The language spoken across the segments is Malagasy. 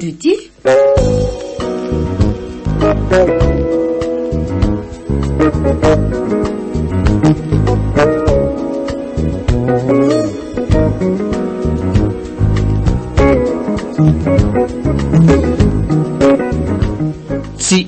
Tsy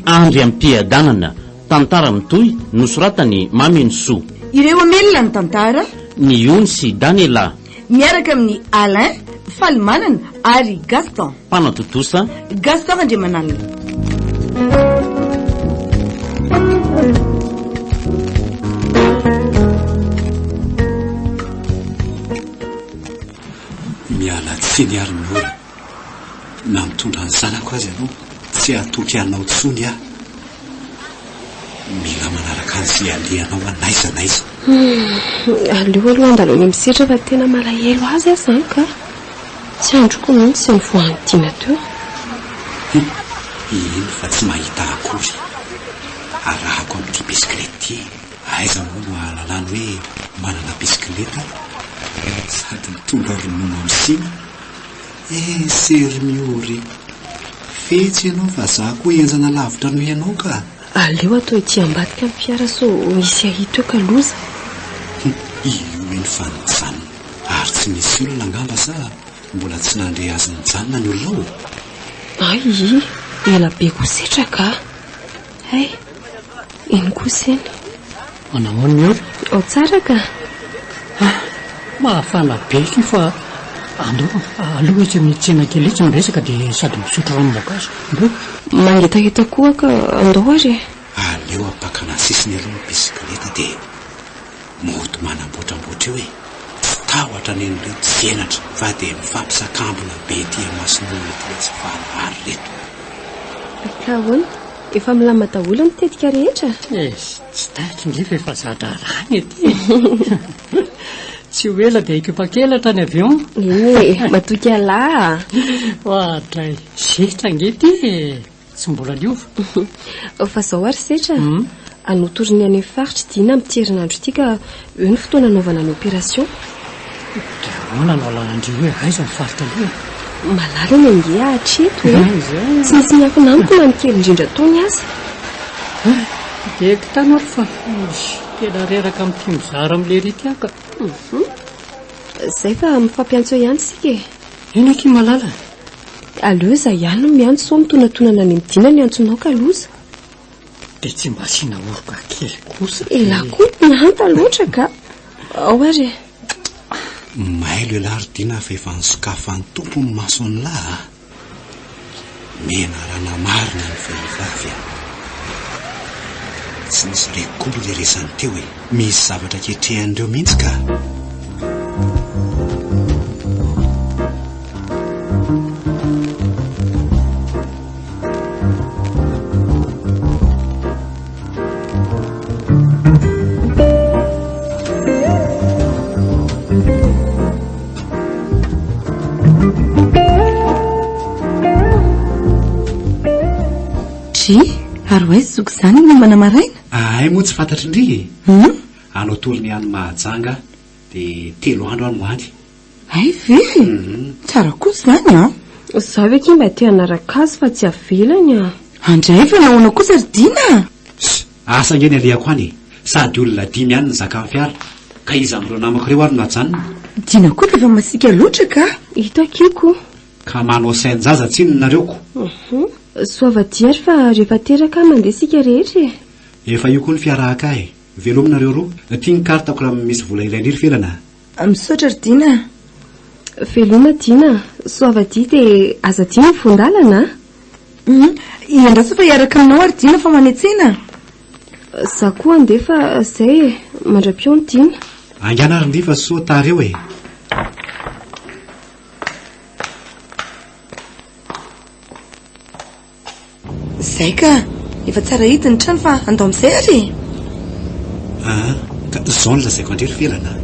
andry am-piadanana, tantara mitohy nosoratan'i Mamy Nisoa. Ireo Amela ny tantara. Ny Ony sy Danela. Miaraka amin'i Alain, Falimanana ary Gaston. Mpanao tontosa, Gaston Randriamanalina. Miala tsiny ary ny orana. Na mitondra ny zanako aza ianao, tsy hatoky anao intsony aho. Mila manaraka an'izay alehanao aho n'aiza n'aiza. Aleo aloha handalo any amin'ny sehatra fa tena malahelo azy aho izany ka. Tsy androko mihitsy izay nivoahan'i Tiana teo. Heno fa tsy mahita akory. Arahako amin'ity bisikileta ity. Aiza moa no ahalalany hoe manana bisikileta sady mitondra ronono amin'ny siny. Eh Sermio ry. Fetsy ianao fa za koa enjana lavitra noho ianao ka. Aleo atao ety ambadika ny fiara sao misy ahito eo ka loza. Io eny fa nijanona. Ary tsy misy olona angamba sa mbola tsy nandre azy nijanona ny olona ao e. Ay i, ela be koa setra ka. Hay! Eny kosa eny. Manao ahoana eo? Ao tsara ka! Ah! Mahafana be ity fa andao aloha etsy amin'ny tsena kely etsy ny resaka dia sady misotro ranom-boankazo. Andao e! Mangetaheta koa ka andao ary e! Aleo ampakana sisiny aloha ny bisikileta dia. Mody manambotrambotra eo e! Tsy tahotra ny an'ireo tsy henatra fa dia mifampisakambina be ety imason'olona ety letsy valahary reto. Ka ahoana? Efa milamina daholo ny tetika rehetra? Eish, tsy taiko nge fa efa za-draharaha ny ety e! Tsy ho ela dia hikopak'elatra ny avion. Eny e! Matoky ialahy a! Oadray! Zetra ange ity e! Tsy mbola liova. Fa zao ary setra, hmm? anotoriny any amin'ny faritry dina amin'ity herinandro ity ka eo ny fotoana anaovana ny opération. Ahoana no alahandry hoe aiza ny faritra aloha? Malalana ange hatreto e. Tsy nisy miafina amiko na ny kely indrindra tony aza. Dia kitana ary fa tena reraka amin'ny tim zara amin'ilay ritiaka. Mhm. Zay fa mifampiantso ihany isika e. Inona akia malala? Aleo izaho ihany no miantso sao mitonatonana any amin'ny dina ny antsonao ka loza. Dia tsy mba asiana oroka kely kosa. Elah koa ny hanta loatra ka. Ao ary e. Mailo elah ry Dina fa efa nisokafan-tompo ny mason'lah a. Menarana marina ny vehivavy a! Tsy nisy reko akory le resany teo e! Misy zavatra ketrehan'ireo mihitsy ka! Ary hoe zoky izany ny mombana maraina? Ahay moa tsy fantatry ndry e. Anao tolony any Mahajanga dia telo andro aho no any. Hay ve e! Tsara kosa izany an! Za ve kay mba te hanaraka azy fa tsy avelany an! Andray fa nahoana kosa ry Dina a! Ss! Asa ange ny alehako any e! Sady olona dimy ihany ny zakan'ny fiara ka iza amin'ireo namako ireo ary no hajanona? Dina koa dia efa masiaka loatra ka! Hita kiko! Ka manao sain-jaza tsinona nareo ko! Soava dia ary fa rehefa teraka mandeha isika rehetra e! Efa io koa ny fiarahaka e! Velomina nareo roa! Ity ny carte-ko raha misy vola iray lira ivelany a! A, Misaotra ry Dina a. Veloma Dina, soavadia dia aza adino ny voan-dalana a! Hum, iandraso fa hiaraka aminao ary Dina fa manetsena. Za koa andeha fa zay e, mandram-peo ny Dina. Aingana ry Ndry fa soa tara eo e. Zay ka! Efa tsara hita ny trano fa andao amin'izay ary e! Aa! Ka izao no lazaiko an-dry Rivelana a!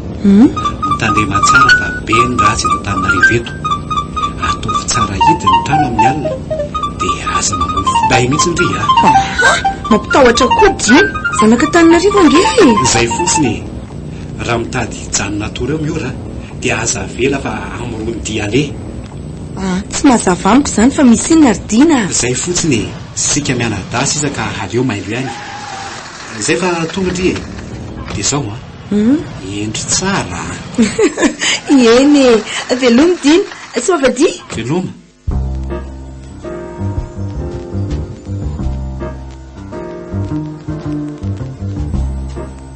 Mitandrema tsara fa be ny ratsy eto Antananarivo eto! Ataovy tsara hita ny trano amin'ny alina dia aza mamono finday mihitsy ndry a! Aha! Mampitahotra koa Dimy! Zanaka Antananarivo ange e! Zay fotsiny e! Raha mitady hijanona toa reo Miora dia aza avela fa amoron-dia aleha! Ah, tsy mazava amiko izany fa misy inona ry Dina a! Zay fotsiny e! Sika mianadahy sisa ka aleo mailo ihany. Zay fa tonga ndry e! Dia zao an! Hendry tsara an! Eny e! Veloma Dina! Soa avadiha! Veloma!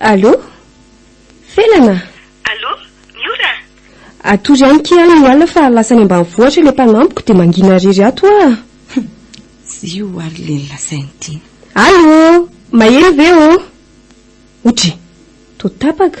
Allô? Felana? Allô? Miora? Atory any ki any ny alina fa lasa any ambanivohitra ilay mpanampiko dia mangina irery ato aho. Zio ary le lasainy tiana. Allô? Mahery ve ô? Otry, toa tapaka.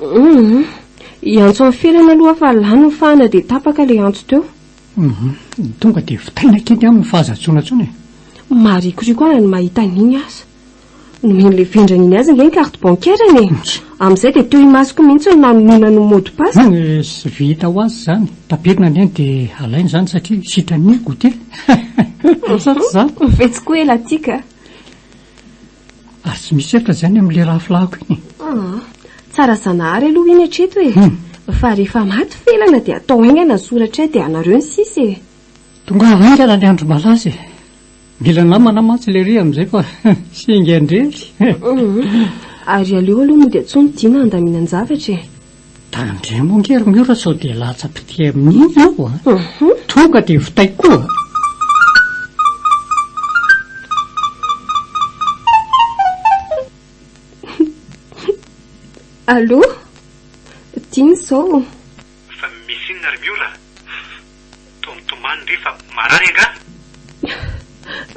Humm. Hiantso an'i Felana aloha aho fa lany ny fahana dia tapaka ilay antso teo. Humm. Tonga dia vitaina kely aminy fa aza antsoina intsony e. Maharikoriko ahy ny mahita an'iny aza. Nomen'ilay vendrana iny azy ange ny carte bancaire-ny e. Amin'izay dia teo imasoko mihitsy no nanononany ny mot de passe. Tsy vita ho azy izany. Tapirina anie dia alaina izany satria sitran'ny goûter. Sa tsy izany? Vetsy koa ela tika. Ary tsy misy efitra izany amin'ilay rafilahiko iny e. Ah, tsara Zanahary aloha iny hatreto e. Hmm. Fa rehefa maty felana dia atao haingana soratra ay dia anareo ny sisa e. Tonga haingana ny andro malaza e. Mila namana mantsy lery amin'izay fa singa indrery. Hmm. Ary aleo aloha moa dia tsy ho midina handaminan-javatra e. Tandremo ange ry Miora sao dia latsa-pitia amin'iny ianao a! Tonga dia vitaiko koa! Allô? Dino izao. Fa misy inona ry Miora? Tomtomany ve fa marary angaha?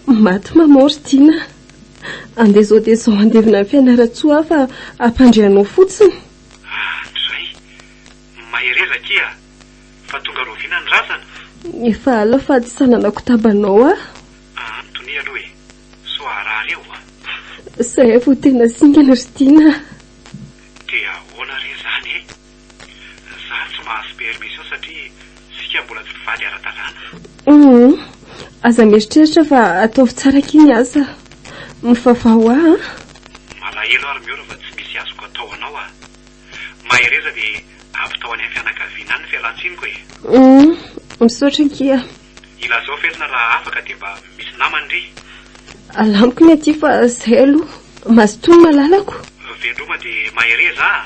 Maty maman ry Dina a! Andeha izao dia izao handevina ny Fianarantsoa aho fa hampandre anao fotsiny. Ah hatrizay! Mahereza akia ah! Fa tonga roviana ny razana? Efa ala fa tsy sananako tabanao ah! Ah antonia aloha e! Sao harary eo ah! Zay vao tena singany ry tiana ah! Dia ahoana re zany e! Za tsy mahazo permission satria. Isika mbola tsy mpivady ara-dalàna. Humm. Aza mieritreritra fa ataovy tsara akia ny asa. Mivavaha ho ahy an. Malahelo aho ry Miora fa tsy misy azoko atao anao a. Mahereza dia ampitao any amin'ny fianakaviana any ny fialan-tsiniko e. Humm. Misaotra akia. Ilazao velona raha afaka dia mba misy namany ry. Alamiko ny aty fa izay aloha. Mazotoa ny malalako. Veloma dia mahereza a.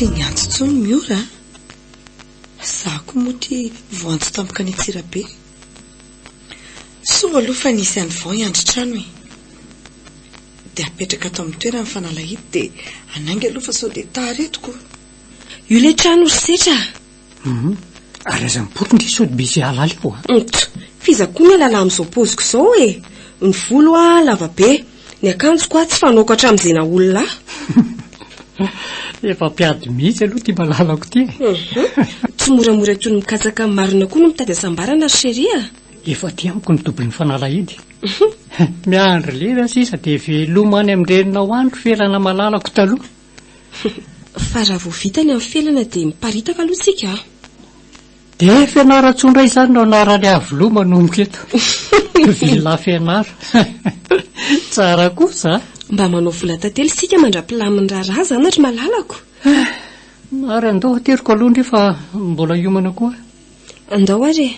Tsy niantso intsony ny ora a! Za ko moa ty voantso tampoka any Antsirabe. Soa aloha fa nisy an'i Vao hiandry trano e! Dia apetraka ato amin'ny toerany fa nalahelo dia hanainga aloha fa sao dia tara eto ko! Io le trano ry setra a. Hum, ary aza mipoitra ndry sao dia misy hihalala eo a. Ntch, f'iza koa ny hialala amin'izao paoziko izao e. Ny volo a lava be, ny akanjoko a tsy fanaoko hatramin'izay naha olona ahy. Efa mpiady mihitsy aloha ity malalako ity e. Hum, tsy moramora toy ny mikatsaka marina koa no mitady hasambarana ry chérie a. Efa aty amiko ny double-n'ny fanalahidy. Miandry lera sisa dia veloma any amin-dreninao any ry felana malalako taloha. Fa raha vao vita ny amin'ny felana dia miparitaka aloha tsika a! Dia Fianarantsoa indray izany no anaran'i Iavoloha manomboka eto. Villa Fianara. Tsara kosa a! Mba manao vola tantely isika mandra-pilamin'ny raharaha izany ry malalako! Ary andao ateriko aloha indray fa mbola hiomana koa. Andao ary e!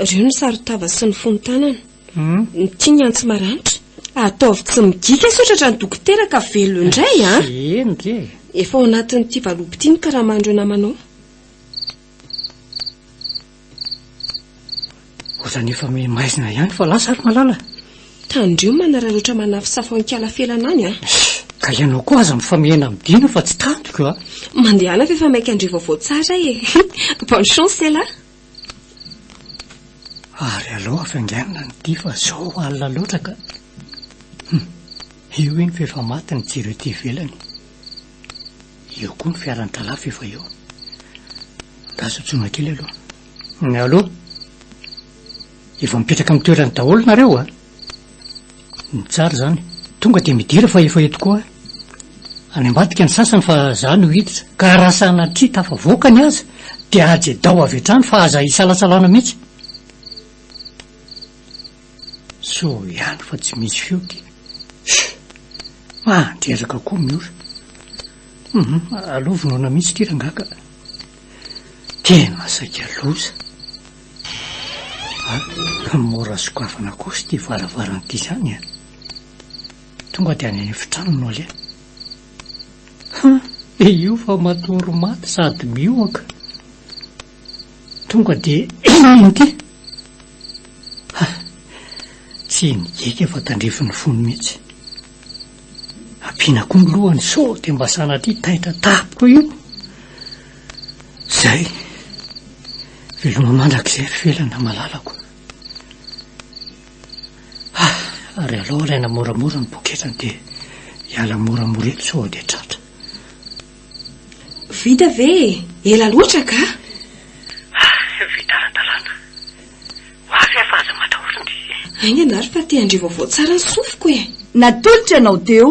Ireo no saron-tava sy ny fonon-tanana. Ny tiany antsy maranitra. Ataovy tsy migika sao tratran'ny dokotera ka velona indray a. Eny re. Efa ao anatin'ity valopy ity ny karaman'ireo namanao. Ohatrany efa me maizina ihany fa lasa ry Malala. Tandremo manararaotra manafosafo an-kiala felana any a. Ka ianao koa aza mifamihena amin'ny Dina fa tsy tantiko a. Mandehana fa efa maika handre vaovao tsara e. Bonne chance ela. Ary aleo hafainganina ny ity fa zao alina loatra ka. Hum, io iny fa efa maty ny jiro ety ivelany. Eo koa ny fiaran'ny tralah fa efa eo. Angaha sotsoina kely aloha. Allo! Efa mipetraka amin'ny toerany daholo nareo a? Ny tsara izany tonga dia midira fa efa eto koa any ambadika ny sasany fa za no hiditra ka raha sanatria tafavoaka ny azy dia ajedao avy hatrany fa aza isalasalana mihitsy. Soa ihany fa tsy misy feo ty. Shhh! Mandreraka koa Miora. Hum, aloha vonona mihitsy ity rangahy ka. Tena saika loza. Fa mora sokafana kosa ity varavarana ity izany an! Tonga dia any amin'ny efitrano no aleha. Ha! dia io fa matory maty sady mihohoka. Tonga dia inona ity? Ha! tsy nigeika fa tandrifin'ny fony mihitsy. Ampiana koa ny lohany sao dia mba sanatria taitra tampoka io. Izay. Veloma mandrakizay ry Felana malalako. Ah, ary alao alaina moramora ny poketrany dia hiala moramora eto sao dia tratra. Vita ve e? Ela loatra ka! Ah, vita ara-dalàna. Ho avy aho fa aza matahory ny. Aingana ary fa te handre vaovao tsara ny sofiko e! Natolotra anao teo.